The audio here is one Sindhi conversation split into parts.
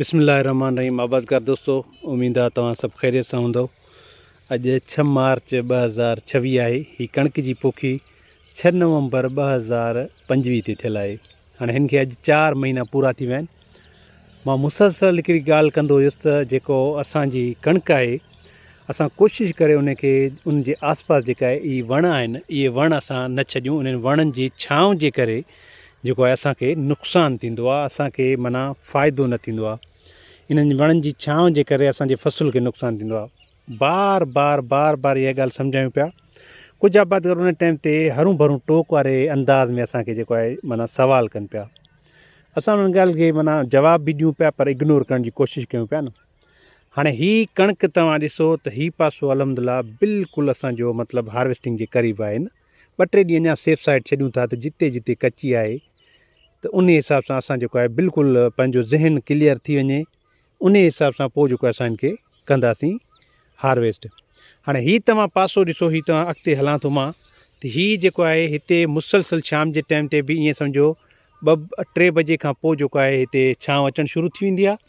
بسم الله الرحمٰن الرحيم آبادگار دوستو اميد آ توهان سڀ خيريت سان هوندؤ اڄ ڇهه مارچ ٻه هزار ڇويهه آهي هي ڪڻڪ جي پوکي ڇهه نومبر ٻه هزار پنجويهه تي ٿيل آهي هاڻي هن کي اڄ چار مهينا پورا ٿي ويا آهن مان مسلسل هڪڙي ڳالهه ڪندو هيس ته جيڪو اسان جي ڪڻڪ آهي اسان ڪوشش ڪري ان کي ان جي آس پاس جيڪا اهي وڻ آهن اهي وڻ اسان نه ڇڏيون انهن وڻن جي ڇانو جي ڪري جيڪو آهي اسان کي نقصان ٿيندو آهي اسان کي معنيٰ فائدو نه ٿيندو آهي انهن وڻن جي ڇانو جي ڪري اسان جي فصل کي نقصان ٿيندو آهي بار بار بار بار اها ڳالهه سمجهايون پيا ڪجهه آبادگار انهن ٽائيم تي هرون ڀرون ٽوڪ واري انداز ۾ اسان کي جيڪو آهي معنيٰ سوال ڪن پيا اسان انهن ڳالهه کي معنيٰ جواب به ڏيون پيا پر اگنور ڪرڻ جي ڪوشش ڪيون پيا نه هاڻي هي ڪڻڪ توهان ڏسو ته هي پاسو الحمد لله بلڪل اسان جو مطلب هارويسٽنگ جي قريب آهي نه ٻه ٽي ڏينهن اڃا سيف سائيڊ ڇڏيون ٿا ته جتي جتي ڪچي آهي ته انهي حساب سان اسان جيڪو آهي بلڪل پنهنجو ذهن ڪليئر ٿي وڃي انهي حساب سان پوء جيڪو اسان ان کي ڪنداسين هارويسٽ هاڻي هي توهان پاسو ڏسو هي توهان اڳتي هلان ٿو مان ته هي جيڪو آهي هتي مسلسل شام جي ٽائيم تي به ائين سمجهو ٻه ٽي بجي کان پوء جيڪو آهي هتي ڇانو اچڻ شروع ٿي ويندي آهي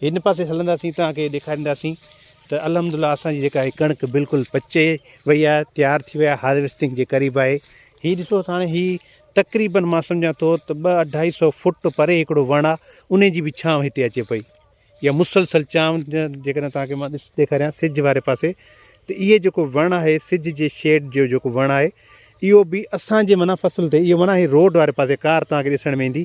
هن پاسي هلنداسين توهان کي ڏيکارينداسين ته الحمد الله اسان جي جيڪا هي ڪڻڪ بلڪل پچي وئي آهي تيار ٿي وئي آهي هارويسٽنگ جي قريب آهي هي ڏسو ته هاڻي هي تقريبن مان سمجهان ٿو ته ٻه اڍائي سو فوٽ پري هڪڙو وڻ آهي انهي جي به ڇانو هتي اچي پئي يا مسلسل چانو جيڪڏهن توهان کي مان ڏس ڏيکاريان سج واري پاسي ته اهي جيڪو وڻ آهي سج جي شيڊ جو جيڪو وڻ آهي اهو به اسان جي معنيٰ فصل تي اهو معنيٰ هي روڊ واري پاسي ڪار توهان کي ڏسڻ ۾ ايندي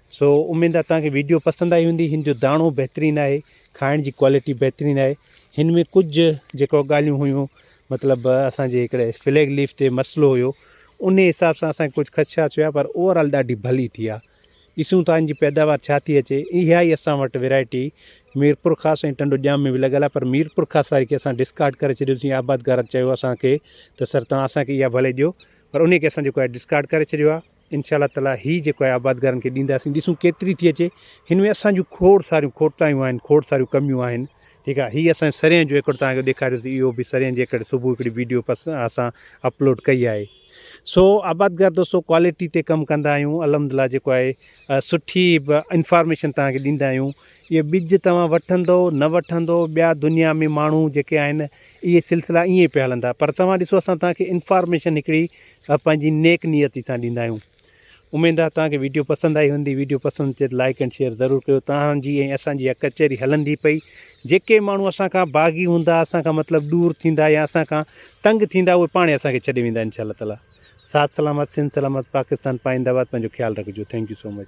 سو اميد آ توهان کي ويڊيو پسند آئي هوندي هن جو داڻو بهترين آهي کائڻ جي ڪوالٽي بهترين آهي هن ۾ ڪجهه جيڪو ڳالهيون هيون مطلب اسان جي هڪڙي فليگ ليف تي مسئلو هيو ان حساب سان اسان ڪجهه خدشات هيا پر اوورآل ڏاڍي ڀلي ٿي آ ڏسون ٿا ان جي پيداوار ڇا ٿي اچي اها ئي اسان وٽ ويرائٽي ميرپور خاص ۽ ٽنڊو ڄام ۾ به لڳل آ پر ميرپور خاص واري کي اسان ڊسڪارڊ ڪري ڇڏيو سين آبادگارن چيو اسان کي ته سر توهان اسان کي اها ڀلي ڏيو پر ان کي اسان جيڪو آهي ڊسڪارڊ ڪري ڇڏيو آ انشاء الله تعالي هي جيڪو آهي آبادگارن کي ڏينداسين ڏسون ڪيتري ٿي اچي هن ۾ اسان جون کوڙ ساريون کوٽايون آهن کوڙ ساريون ڪميون آهن ٺيڪ آهي هي اسان سرين جو ايڪڙ تهان کي ڏيکاريو ٿي اهو به سرين جي ايڪڙ صبح هڪڙي ويڊيو پس اسان اپلوڊ ڪئي آهي سو آبادگار دوستو ڪوالٽي تي ڪم ڪندا آهيون الحمدلله جيڪو آهي سٺي انفارميشن تهان کي ڏيندا آهيون اهي ٻج توهان وٺندو نه وٺندو ٻيا دنيا ۾ ماڻهو جيڪي آهن اهي سلسلا ائين پيا هلندا پر توهان ڏسو اسان تهان کي انفارميشن هڪڙي اھا پنھنجي نيڪ نيتي سان ڏيندا آھيون اميد آھي توھان کي ويڊيو پسند آئي ھوندي ويڊيو پسند اچي ته لائيڪ اينڊ شيئر ضرور ڪيو توھان جي ۽ اسان جي اھا ڪچھري ھلندي پئي جيڪي ماڻھو اسان کان باغي ھوندا اسان کان مطلب ڏور ٿيندا يا اسان کان تنگ ٿيندا اھي پاڻ اسان کي ڇڏي ويندا انشاء الله تعالٰي ساٿ سلامت سنڌ سلامت پاڪستان پائينده آباد پنھنجو خيال رکجو ٿينڪ يو سو مچ